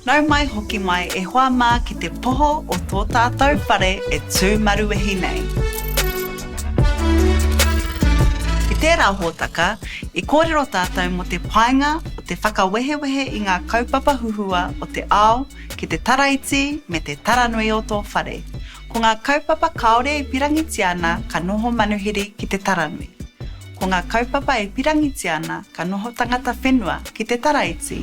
Nau mai hoki mai e hoa mā ki te poho o tō tātou whare e tū maruwehi nei. I tērā hōtaka, i kōrero tātou mō te painga o te whakawehewehe i ngā kaupapa huhua o te ao ki te taraiti me te taranui o tō whare. Ko ngā kaupapa kāore e pirangitia ana ka noho manuhiri ki te taranui. Ko ngā kaupapa e pirangitia ana ka noho tangata whenua ki te taraiti.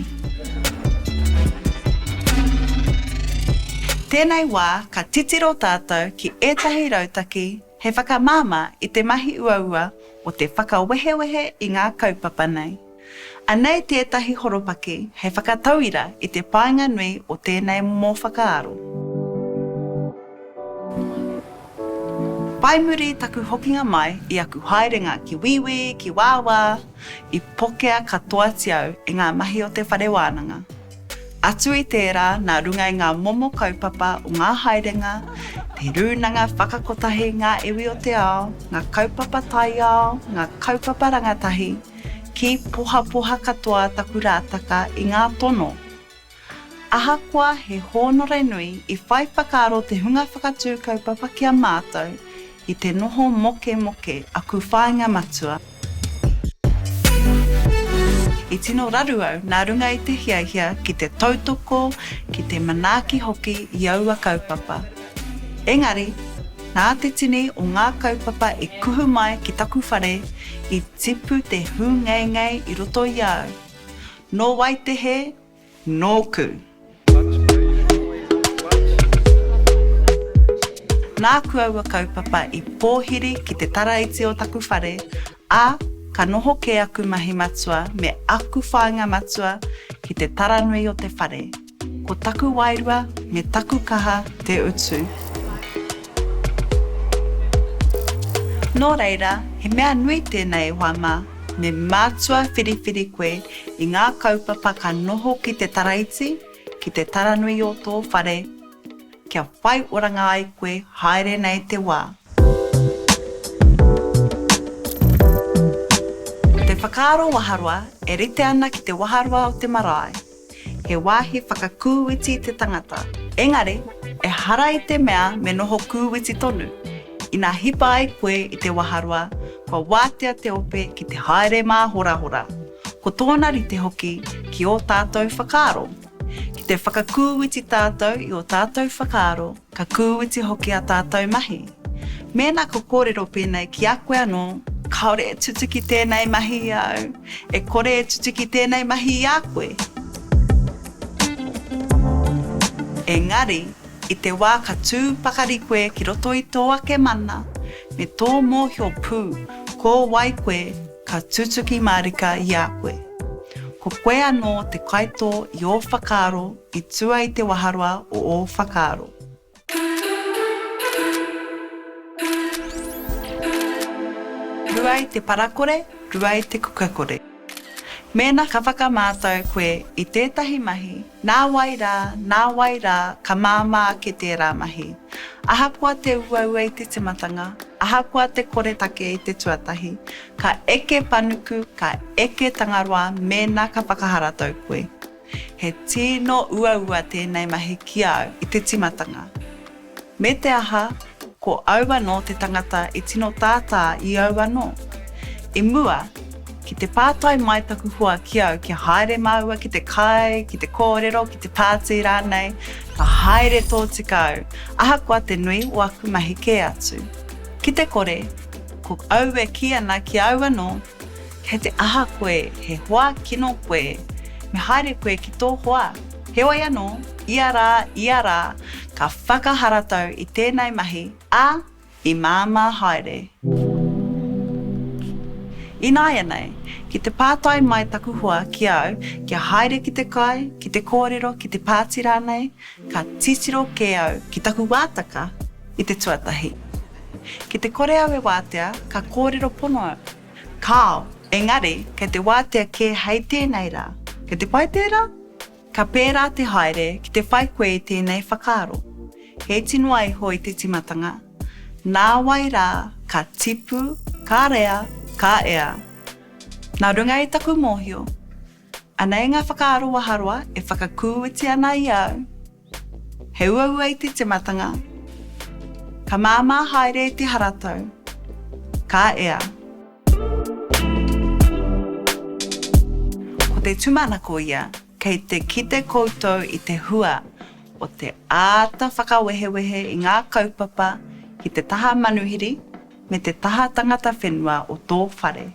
Tēnei wā ka titiro tātou ki ētahi rautaki hei whakamāmā i te mahi uaua o te whakawehewehe i ngā kaupapa nei. Anei tētahi horopaki hei whakatauira i te painga nui o tēnei momo whakaaro. Whai muri taku hokinga mai i aku haerenga ki Wīwī, ki Wāwā, i pokea katoati au e ngā mahi o te whare wānanga. Atu i tērā nā runga i ngā momo kaupapa o ngā haerenga, te rūnanga whakakotahi, ngā iwi o te ao, ngā kaupapa taiao, ngā kaupapa rangatahi, Ki pohapoha katoa taku rātaka i ngā tono. Ahakoa he hōnore nui i whai whakaaro te hunga whakatū kaupapa ki a mātou i te noho mokemoke aku whāinga matua, i tino raru au nā runga i te hiahia ki te tautoko, ki te manaaki hoki i aua kaupapa. Engari, nā te tini o ngā kaupapa e kuhu mai ki taku whare, i tipu te hūngeingei i roto i a au. Nō wai te hē? Nōku! Nāku aua kaupapa i pōhiri ki te taraiti o taku whare, ā, ka noho kē aku mahi matua me aku whāinga matua ki te taranui o te whare. Ko taku wairua me taku kaha te utu. Nō reira, he mea nui tēnei hoa mā, me mātua whiriwhiri koe i ngā kaupapa ka noho ki te taraiti, ki te taranui o tō whare, kia whai oranga ai koe haere nei te wā. Te whakaaro waharoa e rite ana ki te waharoa o te marae. He wāhi whakakūiti te tangata. Engari, ehara i te mea me noho kūiti tonu. Ina hipa ai koe i te waharoa, kua wātea te ope ki te haere māhorahora, ko tōna rite hoki ki ō tātou whakaaro. Ki te whakakūiti tātou i ō tātou whakaaro, Ka kūiti hoki ā tātou mahi. Mēnā ka kōrero pēnei ki a koe anō, kāore e tutuki tēnei mahi i a au, e kore e tutuki tēnei mahi i a koe. Engari, i te wā ka tū pakari koe ki roto i tō ake mana, me tō mōhio pū ko wai koe ka tutuki mārika i a koe. Ko koe anō te kaitō i ō whakaaro, I tua i te waharoa o ō whakaaro. Rua i te parakore, rua i te kukakore. Mēnā ka whakamātau koe i tētahi mahi, nā wai rā, nā wai rā ka māmā ake tērā mahi. Ahakoa te uaua i te timatanga, ahakoa te koretake i te tuatahi, ka eke panuku, ka eke tangaroa mēnā ka whakaharatau koe. He tino uaua tēnei mahi ki a au i te timatanga. Me te aha, ko au anō te tangata i tino tātā i au anō. I mua, ki te pātai mai taku hoa ki au kia haere māua ki te kai, ki te kōrero, ki te pātī rānei, ka haere tōtika au, ahakoa te nui o aku mahi kē atu. Ki te kore, ko au e kī ana ki au anō Kei te aha koe, he hoa kino koe, me haere koe ki tō hoa. Heoi anō, ia rā, ia rā, ka whakaharatau i tēnei mahi, ā, i māmā haere. Ināianei, ki te pātai mai taku hoa ki au kia haere ki te kai, ki te kōrero, ki te pāti rānei, Ka titiro kē au ki taku wātaka i te tuatahi. Ki te kore au e wātea, ka kōrero pono au. Kāo, engari, kei te wātea kē hei tēnei rā. Kei te pai tērā? Ka pērā te haere ki te whai koe i tēnei whakaaro. He iti noa iho i te tīmatanga, nāwai rā ka tipu, ka rea, ka ea. Nā runga i taku mōhio, Anei ngā whakaaro waharoa e whakakuuiti ana i a au, He uaua i te timatanga, Ka māmā haere i te haratau, Ka ea. Ko te tūmanako ia, kei te kite koutou i te hua o te āta whakawehewehe i ngā kaupapa ki te taha manuhiri me te taha tangata whenua o tō whare.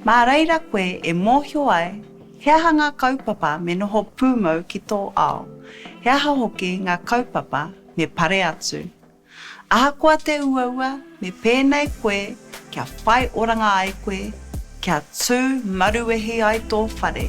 Mā reira koe e mōhio ai he aha ngā kaupapa me noho pūmau ki tō ao, he aha hoki ngā kaupapa me pare atu. Ahakoa te uaua, me pēnei koe kia whai oranga ai koe, kia tū maruwehi ai tō whare.